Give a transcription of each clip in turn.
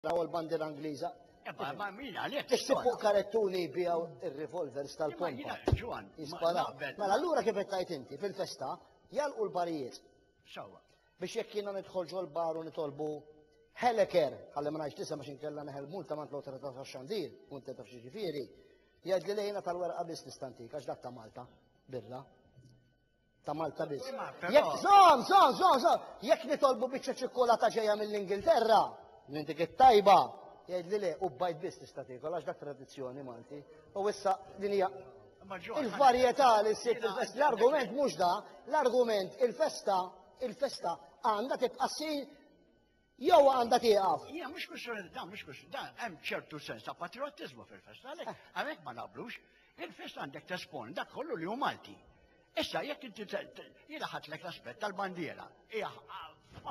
Raw l-bandiera Ingliża. Ebba, ma min għalek. Ixti fuq karettuni bijaw ir-revolvers tal-pompa. Jisparaw. Mela allura kif qed tajt inti fil-festa jalqu l-barijiet. Sawa. Biex jekk jiena nidħolġu l-bar u nitolbu Heleker, għalli ma ngħidx tisem għax inkella neħel multa mant l-awtorità tax-xandir, u inti taf xi ġifieri, jgħid li lejna tal-werqa biss nistantik għax dak ta' Malta, birra. ta' Malta biss. Jekk żon, żon, żon, żon, jekk nitolbu biċċa ċikkulata ġejja mill-Ingilterra, minn dik it-tajba, jgħidli le, u bajt biss tista' tiekol għax dak tradizzjoni Malti. U issa din hija il-varjetà li ssib fil-festa. L-argument mhux da, l-argument il-festa, il-festa għandha tibqa' ssir Jew għandha tieqaf. Hija mhux kwistjoni ta' dan, mhux kwistjoni dan, hemm ċertu sens ta' patriottiżmu fil-festa għalhekk eh. għalhekk ma naqblux. Il-festa għandek tespon dak kollu li hu Malti. Issa jekk inti jiena ħatlek l-aspett tal-bandiera, hija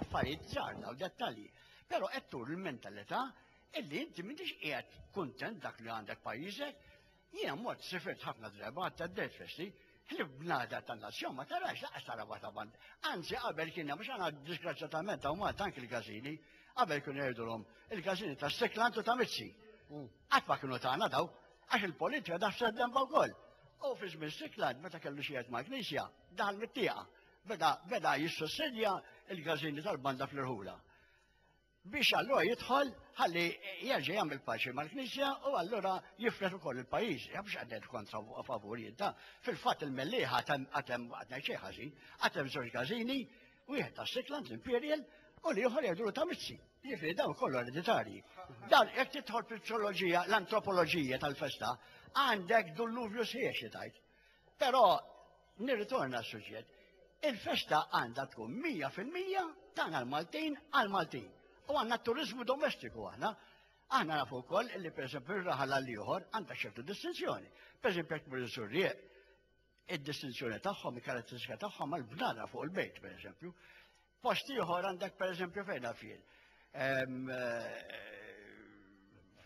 affarijiet żgħar daw dettalji. Però qed tur il-mentalità illi inti m'intix qiegħed kuntent dak li għandek pajjiżek, Jiena mort sifirt ħafna drabi għad ta' Dead Festi, ħlif bnada ta' nazzjon ma tarax laqas tara waħda band. Anzi qabel kien hemm għax għandna disgrazzjatament hawn Malta anki l-każini, qabel kienu jgħidulhom il-każini ta' Sikland u ta' Mizzi. Qatt ma kienu tagħna daw, għax il-politika daħset demba wkoll. U fi żmien Sikland meta kellu xi jgħid mal-Knisja, daħal mit-tieqa. Beda beda jissussidja l-każini tal-banda fl-irħula. Biex allura jidħol ħalli jerġa' jagħmel paċi mal-Knisja u allura jifred ukoll il-pajjiż. Ja biex għadded kontra u favur jinta. Fil-fatt il-Mellieħ għad hemm għad ngħid xejn ħażin, għad hemm żewġ każini, wieħed ta' Sickland, l-Imperial, u l-ieħor jgħidulu ta' Mizzi. Jiġifieri dawn kollu ereditarji. Dan jekk tidħol fil-psoloġija, l-antropoloġija tal-festa, għandek dulluvju sħiħ xi tgħid. Però Nirritorna għas-suġġett. Il-festa għandha tkun 100% tagħna l-Maltin għall-Maltin. U għandna t-turiżmu domestiku aħna. Aħna nafu wkoll li pereżempju r-raħal għal ieħor għandha ċertu distinzjoni. Pereżempju jekk tmur iżurrieq, id-distinzjoni tagħhom, il-karatteristika tagħhom għall-bnara fuq il-bejt, pereżempju. Post ieħor għandek pereżempju fejn għafien.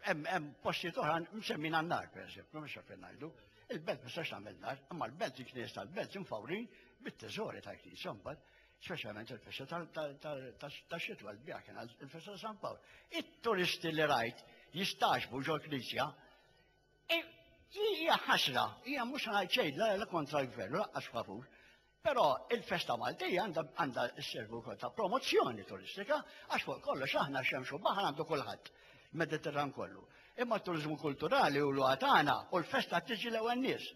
Hemm postijiet oħra msemmin għan-nar pereżempju, mhux fejn ngħidu. Il-belt ma sax tagħmel nar, imma l-belt il-knies tal-belt imfawrin bit-teżori tal-knies imbagħad specialment il-festa ta' xitwa l-bija kien il-festa ta' San Pawl. It-turisti li rajt jistaxbu ġol knisja e, hija ħasra, hija mhux ngħid xejn la kontra l-gvern, laqqas favur. Però il-festa Maltija għandha sservi wkoll ta' promozzjoni turistika għax fuq kollox aħna xemx u baħar għandu kulħadd mediterran kollu. Imma t-turiżmu kulturali u l għatana u l-festa tiġi l-ewwel nies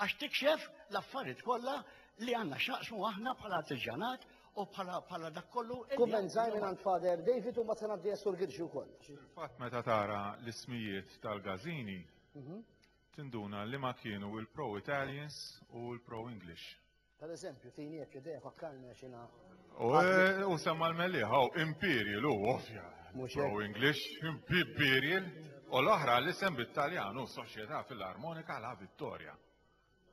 għax tikxef l-affarijiet kollha li għandna x'naqsmu aħna bħala artiġjanat u bħala dak kollu. Kumment żgħir minn għand Father David u mbagħad se ngħaddi Sur Girġi wkoll. Fil-fatt meta tara l-ismijiet tal-gażini mhm. tinduna liema kienu il-pro-Italians u l-pro-English. Per eżempju, tini jekk idea fakkarni għax jina. U semma l-melliħ, għaw, imperial, u ovvja. Pro English, imperial, u l-oħra li sem bit-Taljan, u soċjetà fil-armonika la vittoria.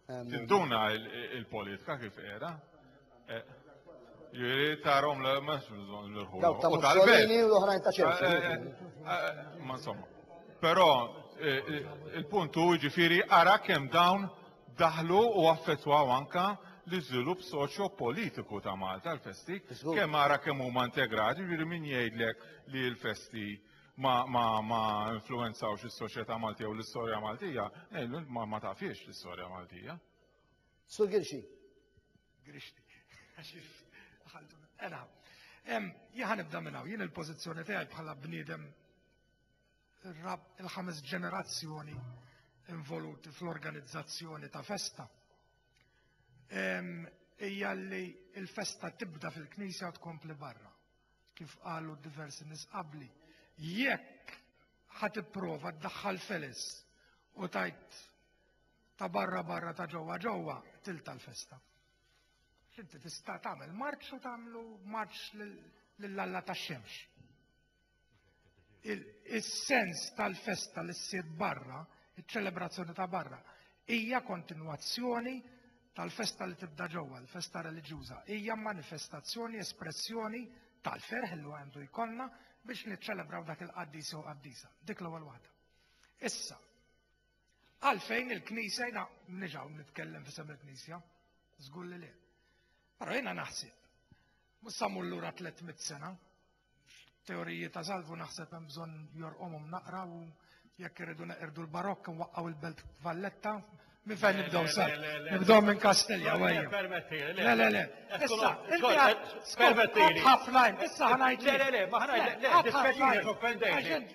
Tinduna il-politika kif era? Ġiri tarom l ma xbżon l-ħu. Dawk ta' Mussolini u l-oħrajn ta' ċertu. Eh, eh, eh, ma insomma. Però il-punt hu ġifiri ara kemm dawn daħlu u affettwaw anka l-iżvilupp soċjo-politiku ta' Malta l-festi, kemm ara kemm huma integrati, ġiri min jgħidlek li l-festi ma, ma, ma influenzawx is-soċjetà Maltija u l-istorja Maltija, ngħidlu ma, ma tafiex l-istorja Maltija. Sur Girxi. Girxi. Ela, jħan nibda minnaw, jien il-pozizjoni tiegħi bħala bniedem il-ħames ġenerazzjoni involuti fl-organizzazzjoni ta' festa. Ija li il-festa tibda fil-knisja tkompli barra, kif qalu diversi nisqabli. Jekk ħat prova d-daħħal felis u tajt ta' barra barra ta' ġewwa ġewwa til tal-festa. X'inti tista' tagħmel marċ u tagħmlu marċ lil Alla tax-xemx. Is-sens tal-festa li ssir barra, iċ-ċelebrazzjoni ta' barra, hija kontinwazzjoni tal-festa li tibda ġewwa, l-festa reliġjuża, hija manifestazzjoni, espressjoni tal-ferħ li għandu jkollna biex niċċelebraw dak il-qaddis jew qaddisa. Dik l-ewwel waħda. Issa, Għalfejn il-Knisja jina mniex hawn nitkellem f'isem il-Knisja, żgur li le. Però jiena naħseb, mhux sa lura 300 sena, teoriji ta' salvu naħseb hemm bżonn jorqomhom naqra u jekk irridu neqirdu l-barokk nwaqqgħu il-belt Valletta Min fejn nibdow sa? Nibdow minn Kastilja, għajja. Le, le, le. Issa, permetti. Ħafna, issa ħanajt. Le, le, le, ma ħanajt. Le, le, le,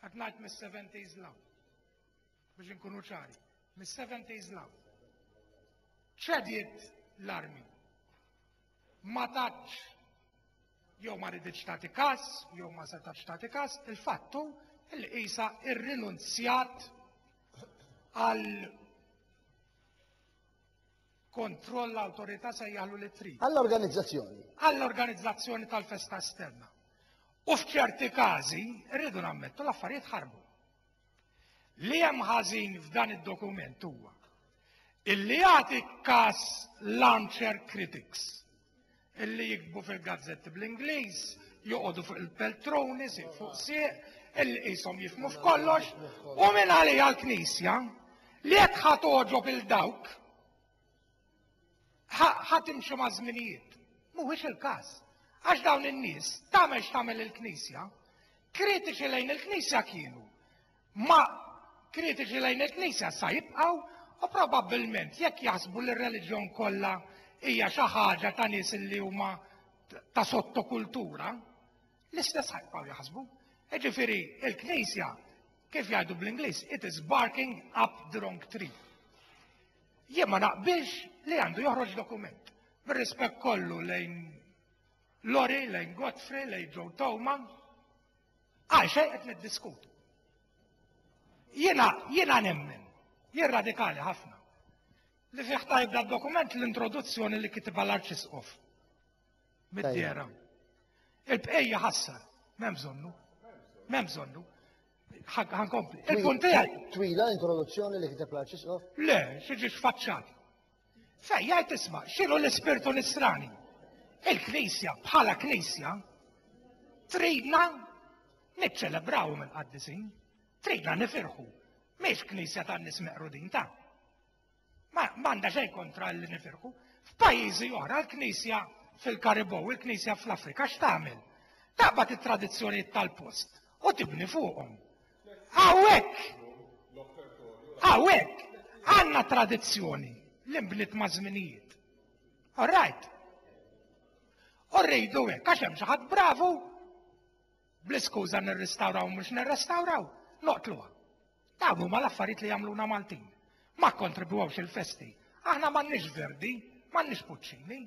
Qed ngħid mis-70s law. Biex inkunu ċari, mis-70s law. Ċediet l-armi. Ma tatx jew ma riditx tagħti każ, jew ma setax tagħti każ, il-fattu li qisha irrinunzjat għal Kontroll l-awtorità sejjaħlu li trid. Għall-organizzazzjoni. Għall-organizzazzjoni tal-festa esterna. U f'ċerti każi, rridu nammettu l-affarijiet ħarbu. Li hemm ħażin f'dan id-dokument huwa illi jagħti kas l-armchair critics illi jikbu fil-gazzetti bl-Ingliż, joqogħdu fuq il-peltruni, siq fuq siq, illi qishom jifmu f'kollox, u minn għalija l-Knisja li qed ħadd oġob il dawk ħadd imxi ma' żminijiet. Mhuwiex il-każ. Għax dawn in-nies tagħmel x'tagħmel il-Knisja, kritiċi lejn il-Knisja kienu. huma kritiċi lejn il-Knisja sa jibqgħu u probabbilment jekk jaħsbu li r-reliġjon kollha hija xi ħaġa ta' nies li huma ta' sottokultura, l-istess ħajbqgħu jaħsbu. Jiġifieri il-Knisja kif jgħidu bl-Ingliż, it is barking up the wrong tree. Jien ma naqbilx li għandu joħroġ dokument. Bir-rispett kollu lejn Lori, lejn Godfrey, lejn Joe Towman, Għal xejn qed niddiskutu. Jiena jiena nemmen, jien radikali ħafna, li fih tajb da dokument l-introduzzjoni li kitibha l-Arċisqof. Mid-dera. Il-bqejja ħassar, m'hemm bżonnu. M'hemm bżonnu. Ħankompli. Il-punt tiegħi. Twila introduzzjoni li kiteb l-Arċisqof? Le, xiġi xfaċċat. Fej jgħid isma' x'inhu l-ispirtu nisrani. Il-Knisja bħala Knisja tridna niċċelebraw minn qaddisin, tridna nifirħu. Mhix Knisja tan-nies meqrudin ta' Ma għandha xejn kontra li nifirħu. F'pajjiżi oħra l-Knisja fil-Karibow, il-Knisja fl-Afrika x'tagħmel? Taqbad it-tradizzjonijiet tal-post u tibni fuqhom. Hawnhekk! Hawnhekk! Għandna tradizzjoni li nbniet ma' żminijiet. All right. U rridu hekk għax hemm xi ħadd bravu bl-iskuża nirrestawraw mhux nirrestawraw, noqtluha. Dawn huma l-affarijiet li jagħmluna Maltin. Ma kontribwewx il-festi. Aħna m'għandniex verdi, m'għandniex puċċini.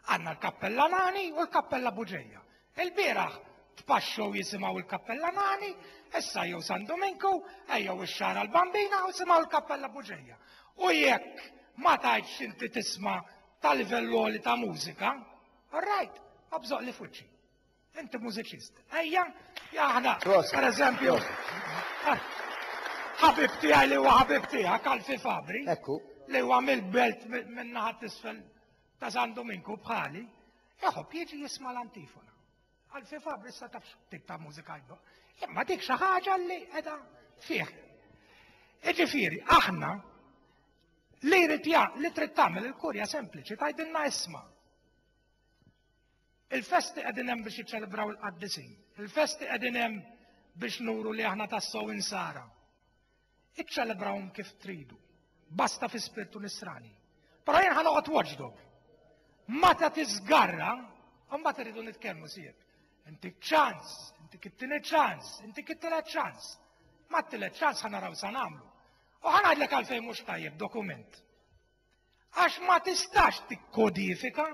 Għandna l-Kappella Nani u l-Kappella Buġeja. Il-bieraħ tpaxxew jisimgħu l-Kappella Nani, issa jew San Dominku, ejjew ix-Xara l-Bambina u simgħu l-Kappella Buġeja. U jekk ma tajtx inti tisma' ta' livell għoli ta' mużika, rajt, abżoq li fuċċi. Inti mużiċist. Ejja, aħna, per eżempju, ħabib tiegħi li huwa ħabib tiegħek, Alfi Fabri, li huwa mill-belt minnaħat isfel ta' San Duminku bħali, iħobb jiġi jisma' l-antifona. Għal fi Fabri sa tafx tip ta' mużika jibba. Imma dik xi ħaġa li qiegħda fih. Iġifieri, aħna li jrid li trid tagħmel il-kurja sempliċi tgħidilna isma'. Il-festi qegħdin hemm biex jiċċelebraw il-qaddisin. Il-festi qegħdin hemm biex nuru li aħna tassew insara. Iċċelebrawhom kif tridu. Basta fi spirtu nisrani. Però jien ħa noqgħod watchdog. Meta tiżgarra, mbagħad irridu nitkellmu sieb. Inti ċans, inti kittini ċans, inti kittini ċans. Ma t-tile ċans ħana raw sa namlu. U ħana għadlek għalfej mux tajjeb dokument. Għax ma tistax t-kodifika,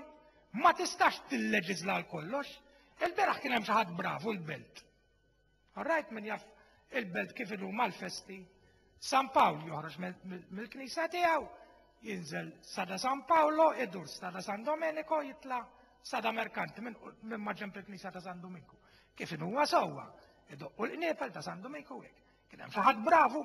ma tistax t-leġizla l-kollox, il-beraħ kien hemm xi ħadd bravu l-belt. All right, min jaf il-belt kif inhu mal-festi. San Pawl joħroġ mill-knisja tiegħu, jinżel sada San Paolo, idur sada San Domenico, jitla sada Merkanti minn maġġemp il-knisja ta' San Dominku. Kif inhu huwa sewwa, idoqqu l-qniepel ta' San Dominku hekk. Kien hemm xi ħadd bravu